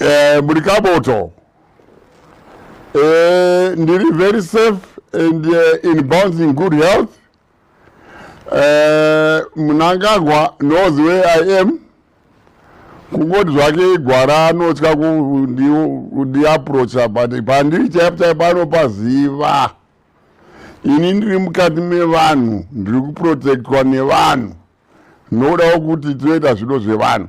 Eh, muri kaboto. Eh, ndiri very safe and uh, in bounds in good health. Eh, Mnangagwa knows where I am. kungoti zvake igwara anotya kundiaprocha but pandiri chaipo chaipo anopaziva ini ndiri mukati mevanhu ndiri kuprotectwa nevanhu ndodawo kuti toita zvido zvevanhu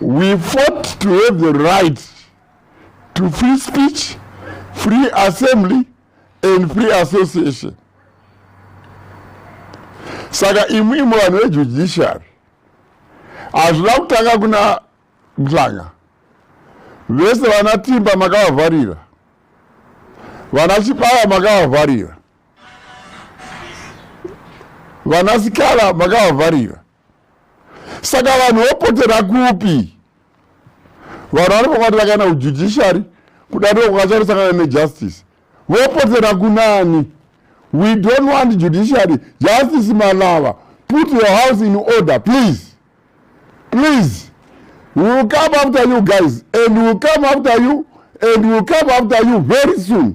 We fought to have the right to free speech, free assembly and free association. Saka imwe imwe vanhu vejudiciary hazvina kutanga kuna Mhlanga. Vese vana Timba makavavharira. Vana Chibaya makavavharira. vanasikana makavavharira saka vanhu vopotera kupi vanhu vari pakati vakaenda kujudiciary kudariro kwakacharosangana nejustice vopotera kunani we don't want judiciary justice malava put your house in order please please we will come after you guys and we will come after you and we will come after you very soon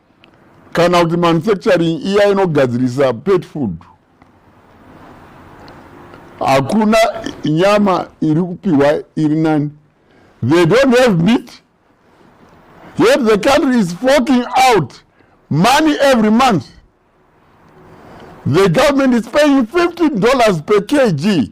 kana kuti manufacturing iya inogadzirisa pet food hakuna nyama iri kupiwa iri nani they don't have meat yet the country is forking out money every month the government is paying 15 dollars per kg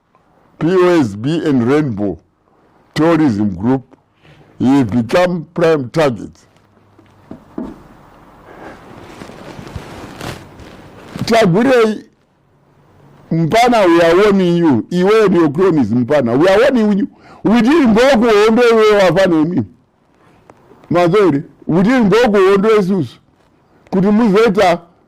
POSB and Rainbow Tourism Group have become prime targets. Tagwirei mpana we are warning you iwe and your cronies mpana we are warning you within mboku hondo iwe wafana imi mazori within mboku hondo isusu kuti muzoita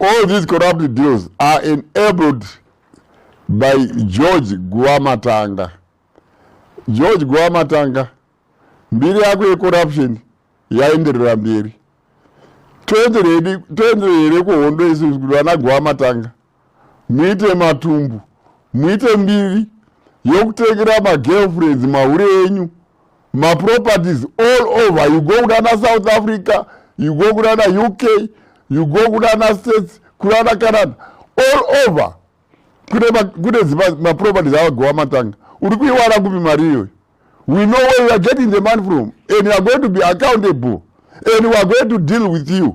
All these corrupt deals are enabled by George Guamatanga. George Guamatanga, mbiri yako yecorruption yaenderera mberi. Toenderere kuhondo isu kuti vana Guamatanga muite matumbu muite mbiri yokutengera magirlfriends mahure enyu maproperties all over you go kunana south africa you go kunana uk you go kunana states kunana canada all over kune zimaproperties avagowa matanga uri kuiwana kupi mari iyoyo we know where you are getting the money from and you are going to be accountable and we are going to deal with you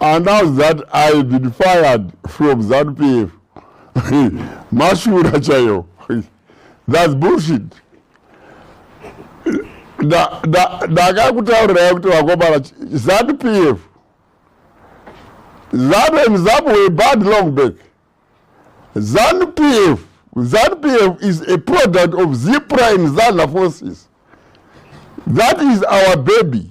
announce that i been fired from zanupf mashura chayo thats bullshit ndakakutaurirai kuti vakomana zanupf zanu and zamu were bad long back zanupf zanupf is a product of zipra and zana forces that is our baby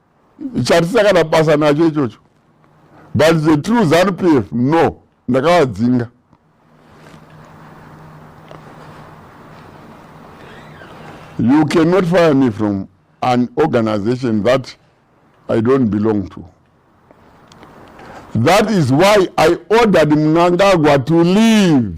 chatisina kana basa nacho ichocho but the true zanu p f no ndakavadzinga you cannot fire me from an organization that i don't belong to that is why i ordered mnangagwa to leave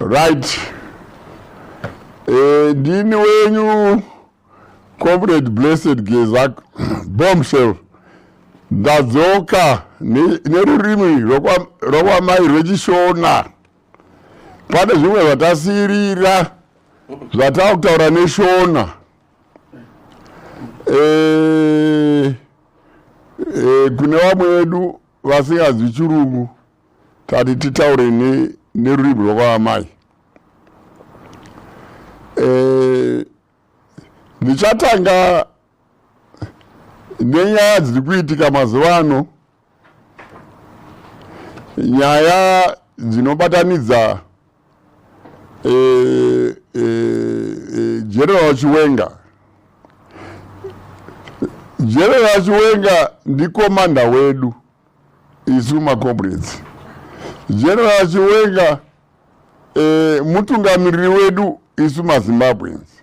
right eh, ndini wenyu comrade blessed geza bombshell ndadzoka nerurimi rwakwamai rwechishona pane zvimwe zvatasirira zvatava kutaura neshona eh, eh, kune vamwe vedu vasinganzwi chirungu tati titaure nerurimi rwakwaamai eh, ndichatanga nenyaya dziri kuitika mazuva ano nyaya dzinobatanidza e, e, e, general chiwenga general chiwenga ndikomanda wedu isu macomrades general chiwenga e, mutungamiriri wedu isu mazimbabweans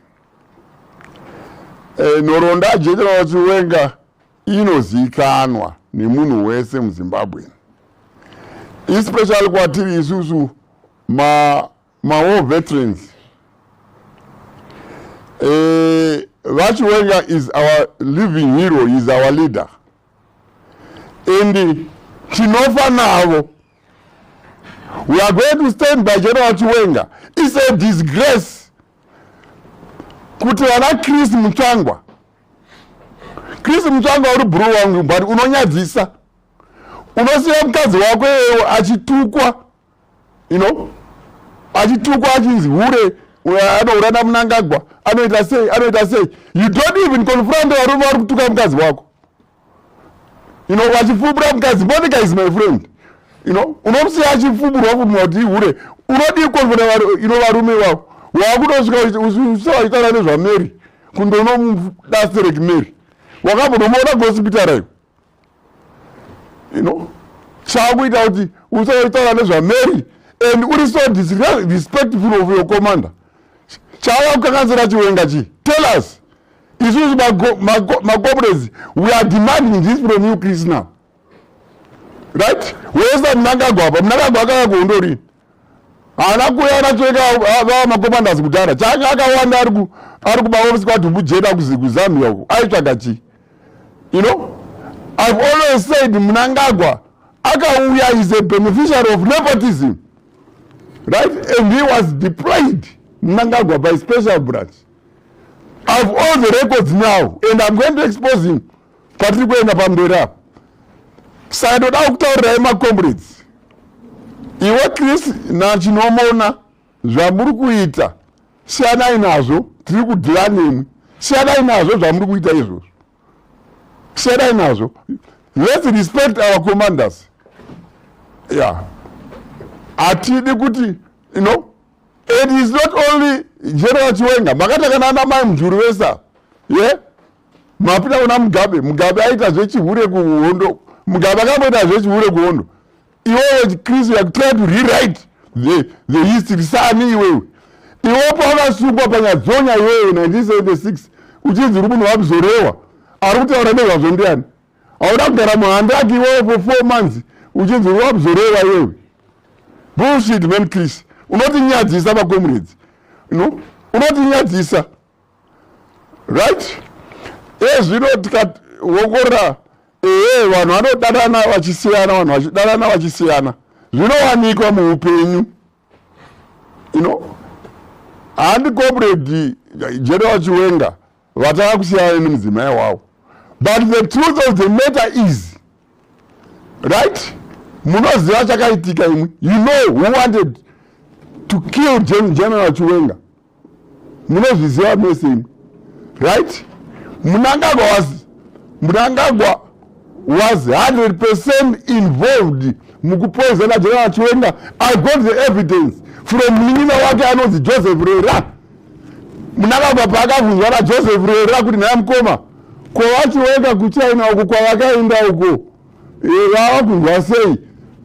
e, eh, nhoroondo general chiwenga inozivikanwa nemunhu wese muzimbabwe especially kwatiri isusu ma, ma war veterans e, vachiwenga is our living hero is our leader and tinofa navo we are going to stand by general chiwenga is a disgrace kuti vana chris mutsvangwa chris mutsvangwa uri bhuru wangu but unonyadzisa unosiya mukadzi wako iyeyo achitukwa you know achitukwa achinzi hure anoura namunangagwa anoita sei anoita sei you don't even confront varume vari kutuka mukadzi wako you know vachifubura mukadzi monica is my friend you know unomusiya achifuburwa futi wati hure unodii confront you know varume vavo wakutosvika usavaitaura nezvamary kundonomudastereki mary wakambonomuona kuhosipitara iwe you know chakuita kuti usaitaura nezvamary and uri so disrespectful of your commander chava kukanganisira chiwenga chii tell us isusu macomrades we are demanding this from you chris now right wesa munangagwa apa munangagwa akaka kuhundorini haana kuya anateka vava makomandas kudhara chake akawanda ari kubaofisi kwadhumbu jeda kuzamia uko aitsvaga chii you know i've always said munangagwa akauya is a beneficiary of nepotism right and he was deployed munangagwa by special branch i've all the records now and i'm going to expose him patiri kuenda pamberi apo saka ndoda kutaurirai macomrades iwe chris nachinomona zvamuri kuita siyanai nazvo tiri kudhira nemwi siyanai nazvo zvamuri kuita izvozvo siyanai nazvo let's respect our commanders ya yeah. hatidi kuti you know and is not only general chiwenga makatakana ana mai mujuru vesa ye yeah? mapinda kuna mugabe mugabe aita zvechihure kuhondo mugabe akamboita zvechihure kuhondo iwewe chikristu you are trying to rewrite the, the history sani iwewe iwe pawakasungwa panyadzonya iwewe 1976 uchinzi uri munhu wabzorewa ari kutaura nezvazvo ndiani hauna kugara muhandaki iwewe for four months uchinzi uri wabzorewa iwewe bullshit man chris unotinyadzisa makomredzi no unotinyadzisa right ezvino tikawongorora ee vanhu vanodanana vachisiyana vanhu vachidanana vachisiyana zvinowanikwa muupenyu you know handi comrade general chiwenga vatanga kusiyana nemudzimai wavo but the truth of the matter is right munoziva chakaitika imwe you know who wanted to kill general chiwenga munozviziva mese imwe right munangagwa was munangagwa was 100 percent involved mukupoizana general chiwenga i got the evidence from munin'ina wake anonzi joseph rera munangagwa paakavhunzwa najoseph rera kuti nhaya mukoma kwavachiwenga kuchina uko kwavakaenda uko iwe vava kunzwa sei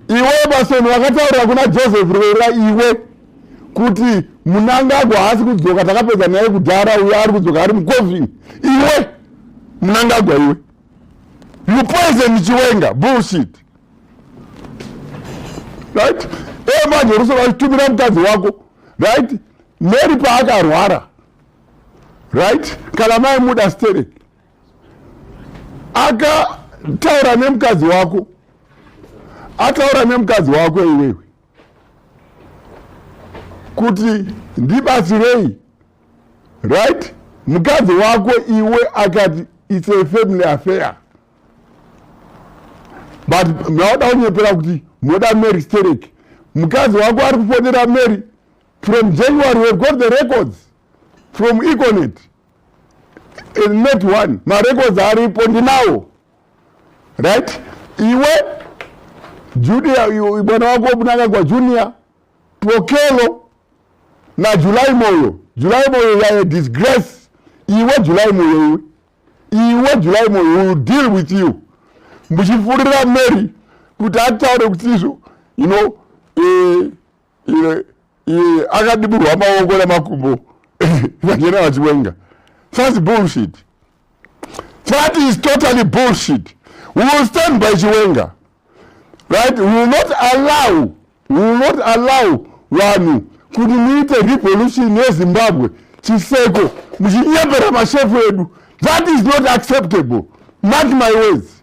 iwe emasoni vakataurira kuna joseph rwera iwe kuti munangagwa haasi kudzoka takapedza naye kudhara uyo ari kudzoka ari mucovin iwe munangagwa iwe you poison chiwenga bullshit right evanjoroso vachitumira mukadzi wako right mary paakarwara right kana maimuda stereki akataura nemukadzi wako ataura nemukadzi wako iwewe kuti ndibatsirei right mukadzi wako iwe akati its a family affair but maoda kunyepera kuti moda mary sterek mukadzi wako ari kufonera mary from january we've got the records from econet eh, not one marecords aripo ndinawo right iwe junior mwana wako unanga kwa junior twokelo na julai moyo julai moyo yaye disgrace iwe julai moyo iwe iwe julai moyo will deal with you muchifurira mary kuti ataure kuti izvo you know eh, iye iye akadiburwa maoko namakumbo vachena vachiwenga thats bullshit that is totally bullshit we will stand by chiwenga right we will not allow we will not allow vanhu kuti muite revolution yezimbabwe chiseko muchinyepera mashefu edu that is not acceptable mark my words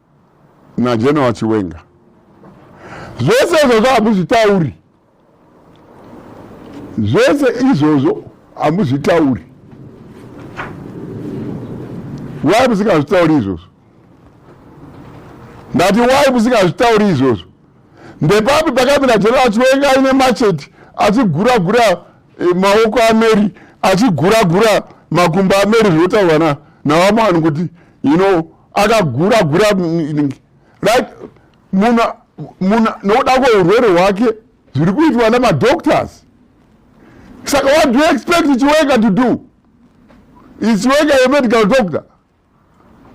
naGeneral Chiwenga. Zvese izvozvo hamuzvitauri, zvese izvozvo hamuzvitauri. Why musingazvitauri izvozvo? Ndati why musingazvitauri izvozvo? Ndepapi pakamira General Chiwenga aine macheti achigura gura eh, maoko aMary achigura gura makumbo aMary zvinotaurwa na navamwani kuti you know akagura gura right munhu munhu nokuda kweurwere hwake zviri kuitwa nemadoctors saka what do you expect chiweka to do is chiweka yemedical doctor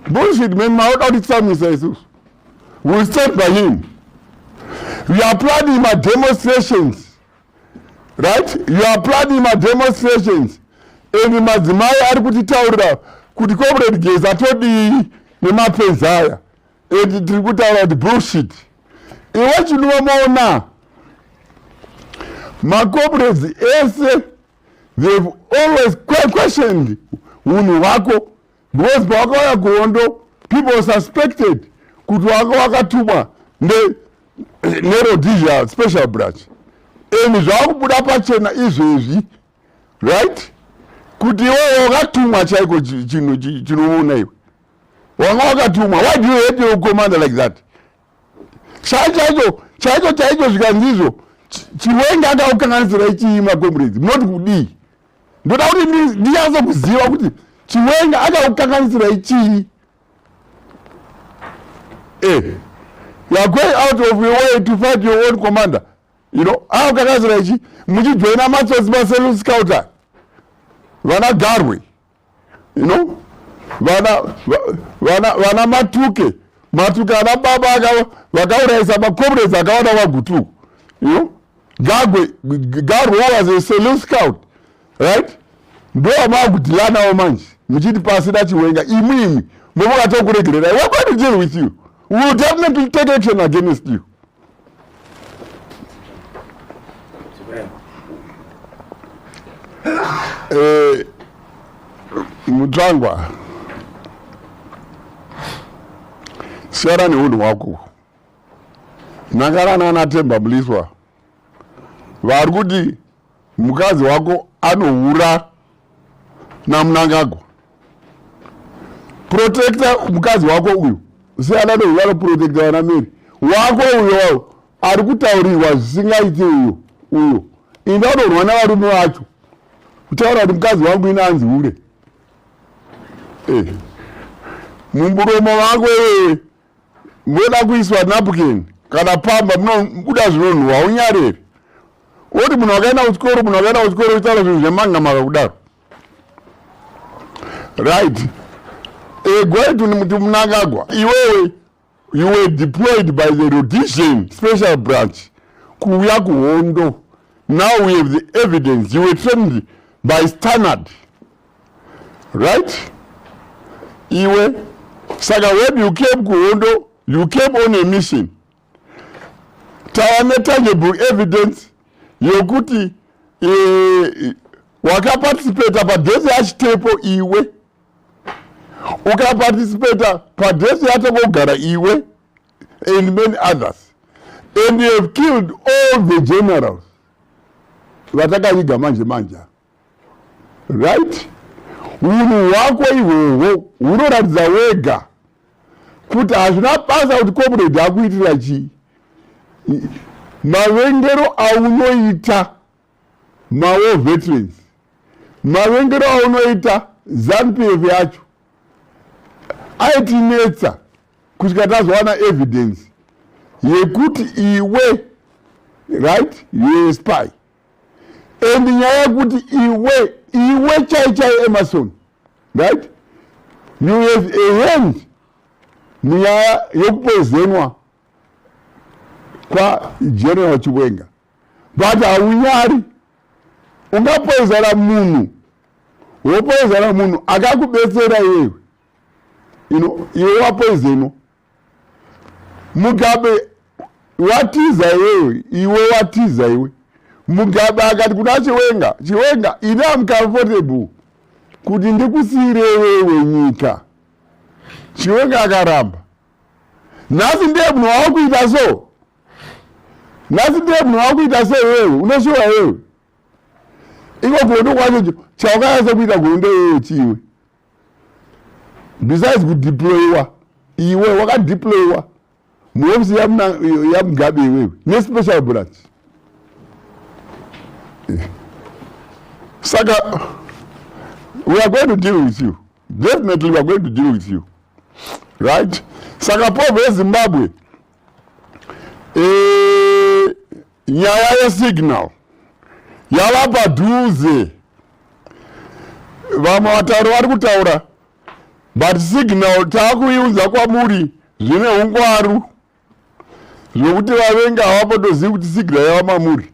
bullshit man maoda kuti tsamisa isusu will stand by him we are planning mademonstrations right you are planning mademonstrations and madzimai ari kutitaurira kuti comrade geza todii nemapenzi aya and tiri kutaura kuti bullshit iwe chinova maona macomrades ese they've always questioned unhu hwako because pawakauya kuhondo people suspected kuti wanga wakatumwa nerhodesia special branch and zvakubuda pachena izvezvi right kuti iwewe wakatumwa chaiko chinhu chinoona iwe wanga wakatumwa why do you hate your commander like that chai chaicho chaicho chaicho zvikanzizvo chiwenga akaukanganisira ichiima comrades munoti kudii ndoda kuti ndinyatso kuziva kuti chiwenga akakukanganisira ichii eh, you are going out of your way to fight your own commander you know akakukanganisira ichii muchijoina matsotsi maseluscouter vana garwe you know vana vana vana matuke matuke ana baba aka vakaurayisa macomrades akawana vagutuku you know gagwe garwo was a saloon scout right ndo vamaakudilanavo manje muchiti pasi dachiwenga imwi imwi mobokatokuregererai wekwati deal with you will definitely take action against you Eh, mutsvangwa siyana neunhu hwako nhakarana anatemba muliswa vari kuti mukadzi wako anohura namunangagwa protecta mukadzi wako uyu siyana neuyo anoprotecta vana meri wako uyo ari kutaurirwa zvisingaiti uyo uyo ini anorwa navarume vacho kutaura kuti mukadzi wangu ini anzi hure eh. mumburomo vako iwee moda kuiswa napkin kana pamba munobuda zvinonhuwa haunyareri woti munhu wakaenda kuchikoro munhu wakaenda kuchikoro uchitaura zvinhu zvemanga maka kudaro right egwaitu eh, muti munangagwa iwewe you were deployed by the rhodesian special branch kuuya kuhondo now we have the evidence you were trained by standard right iwe saka when you came kuhondo you came on a mission tava netangible evidence yokuti eh, wakaparticipata padhesi yachitepo iwe ukaparticipata padhesi yatokogara iwe and many others and you have killed all the generals vatakaviga manje manja right unhu hwako ihwohwo hunoratidza wega kuti hazvina basa kuti comrade akuitira chii mavengero aunoita mawo veterans mavengero aunoita zanupf yacho aitinetsa kusvika tazowana evidence yekuti iwe right yoespy and nyaya yekuti iwe iwe chai chai emerson right you have a hand munyaya yekupoizenwa kwageneral chiwenga but haunyari ungapoizana munhu wopoizana munhu akakubetsera iwewe ino iwe wapoizenwa mugabe watiza iwewe iwe watiza iwe mugabe akati kuna chiwenga chiwenga ini amcomfortable kuti ndikusiyire iwewe nyika chiwenga akaramba nhasi ndiye munhu wawakuita so nhasi ndiye munhu wawakuita so iwewe unoshuwa iwewe iko kuhondo kwacho chawakanyatsa kuita kuhondo iwewe chiiwe besides kudeployiwa iwe wakadeployiwa muhofisi yamugabe iwewe nespecial branch saka we are going to deal with you definitely we are going to deal with you right saka povho yezimbabwe Eh, nyaya yesignal yava padhuze vamwe vatauri vari kutaura but signal taakuiunza kwamuri zvine ungwaru zvokuti vavenga havapotozivi kuti signal yava mamuri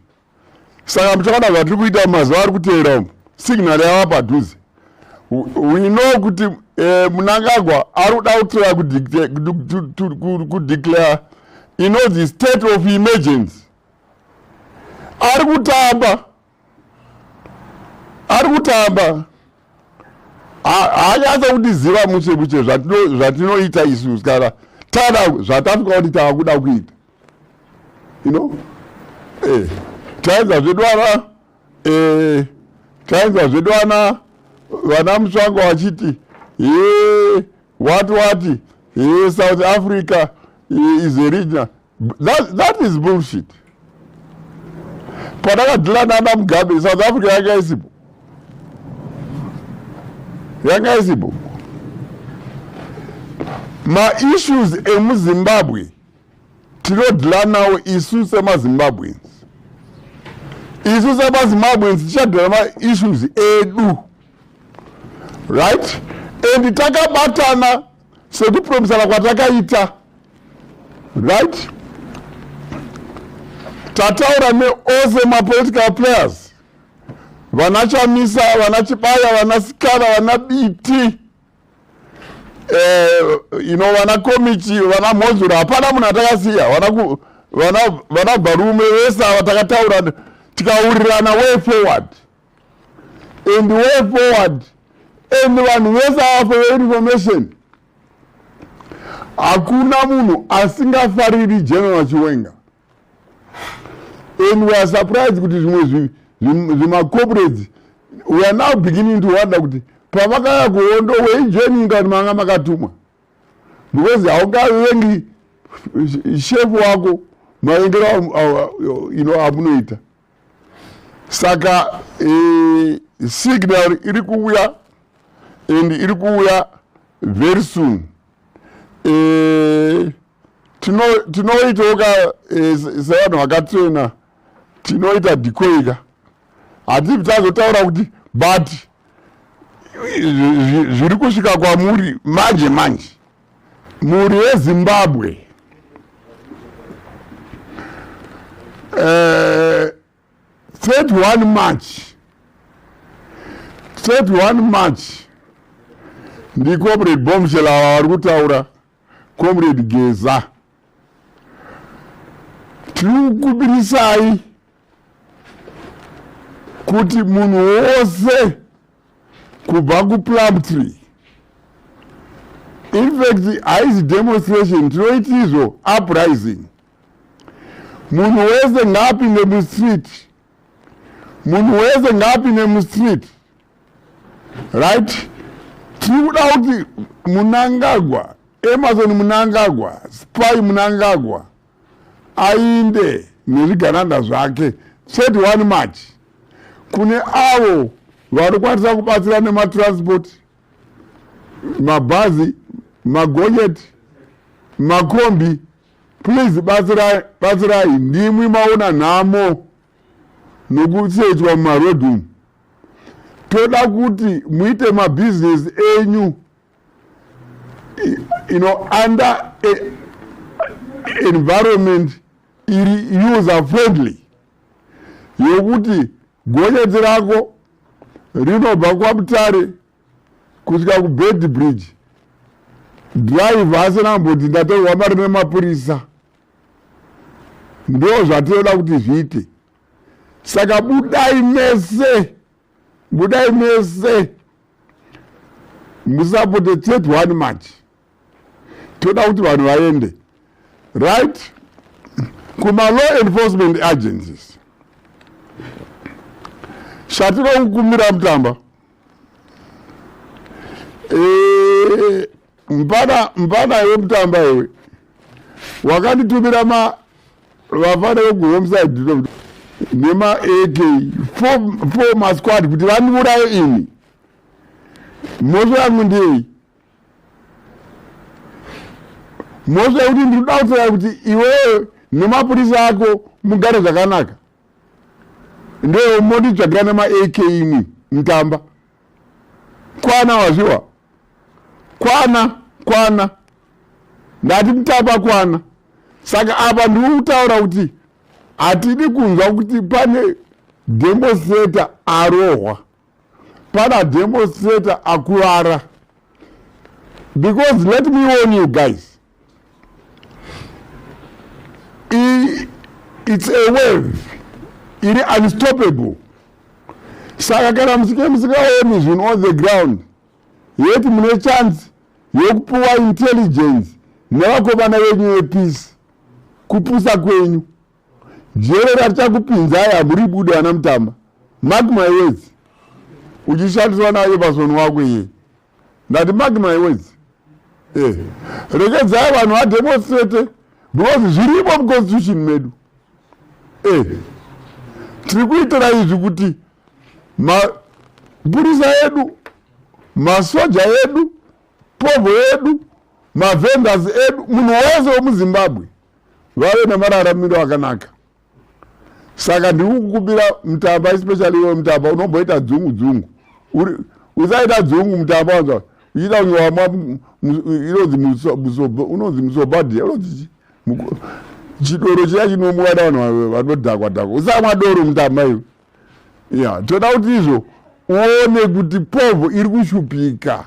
saka muchaona zvatiri kuita mazuva ari kuteera umu signal yava padhuze we know kuti eh, munangagwa ari kuda kutora kudeclare ino the state of emergency ari kutamba ari kutamba haanyatsa kutiziva mushe mushe zvatinoita isu kana tana zvatasvika kuti tava kuda kuita you know eh taedza zvedu ana eh taedza zvedu ana vana musvango vachiti eh what what eh south africa eh, is a region that, that is bullshit pandakadhila nana mugabe south africa yanga isipo yanga isipo maissues emuzimbabwe tinodhila nawo isu semazimbabweans isu semazimbabweans tichadhila maissues edu right and takabatana sekupromisana kwatakaita right tataura neose mapolitical players vana chamisa vana chibaya vana sikana vana biti eh, ino vana komichi vana mhozuro hapana munhu atakasiya vana bvarume vese ava takataura tikaurirana way forward and way forward and vanhu vese ava for your information hakuna munhu asingafariri general chiwenga and we are surprised kuti zvimwe zvimacorporates we are now beginning to wonder kuti pavakaya kuhondo weijoining kani manga makatumwa because haukavengi shefu wako mavengero you know amunoita saka eh, signal iri kuuya and iri kuuya very soon eh, tinoitawo ka eh, sevanhu vakatrena tinoita dikoika hativi tazotaura kuti but zviri kusvika kwamuri manje manje mhuri yezimbabwe uh, eh, 31 march 31 march ndiko bre bomshel ava vari kutaura comrade geza tinokukubirisai kuti munhu wose kubva kuplumtree infact haizi demonstration tinoitizvo uprising munhu wese ngaapinde mustreet munhu wese ngaapinde mustreet right tiri kuda kuti munangagwa emerson munangagwa spy munangagwa ainde nezvigananda zvake 31 march kune avo vanokwanisa kubatsira nematransport mabhazi magonyeti makombi Please batsirai, batsirai ndimwi maona nhamo nokusedzwa mumaroad umu. Toda kuti muite mabusiness enyu you know, under a environment iri user friendly yokuti gonyeti rako rinobva kwamutare kusvika kubedbridge driver asina kumboti ndatorwa mari nemapurisa ndo zvatinoda kuti zviite saka budai mese budai mese musapote tet one match toda kuti vanhu vaende right kumalaw enforcement agencies shatiro kukumira mutamba eh, mpana mpana iwe mutamba iwe wakanditumira ma vafana vekuhomeside nema ak four masquad kuti vandiuraye ini mhosva yangu ndiyei mhosva yekuti ndiri kuda kutaura kuti iwewe nemapurisa ako mugare zvakanaka ndeyo monditsvagira nemaak imwi mutamba kwana wazviwa kwana kwana ndati mutamba kwana saka apa ndiri kutaura kuti hatidi kunzwa kuti pane demoseta arohwa pana demonstrator akuvara because let me warn you guys I, it's a wave iri unstoppable saka kana musike musikaoni zvinhu on the ground yeti mune chance yokupiwa intelligence nevakomana venyu yepeace kupusa kwenyu jere ratichakupinzai hamuri bude vana mutamba mark my words uchishandiswa naye pasoni wako iye ndati mark my words eh rekedzai vanhu vademonstrate because zvirimo muconstitution medu eh tiri kuitira izvi kuti mapurisa edu masoja edu povo edu mavendors edu munhu wese wemuzimbabwe vave nemararamiro akanaka saka ndiri kukumbira mutamba especially iwe mutamba unomboita dzungu dzungu usaita dzungu mutamba wanzwa uchiita kunge wamwa inonzi musoba unonzi musoba dia unonzi chidoro chiya chinomwiwa navanhu vanodhakwa dhakwa usamwa doro mutamba iwe ya toda kuti izvo uone kuti povho iri kushupika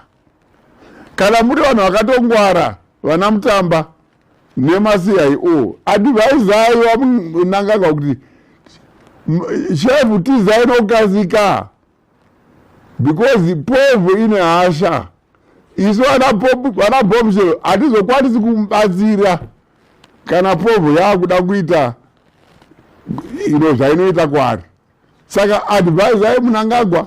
kana muri vanhu vakatongwara vana mutamba nemacio advisai vamunangagwa kuti shefu tizai nokukasika because povu ine hasha isu vana bombshel hatizokwanisi kumubatsira kana povo yaakuda kuita ino zvainoita kwaari saka advisai munangagwa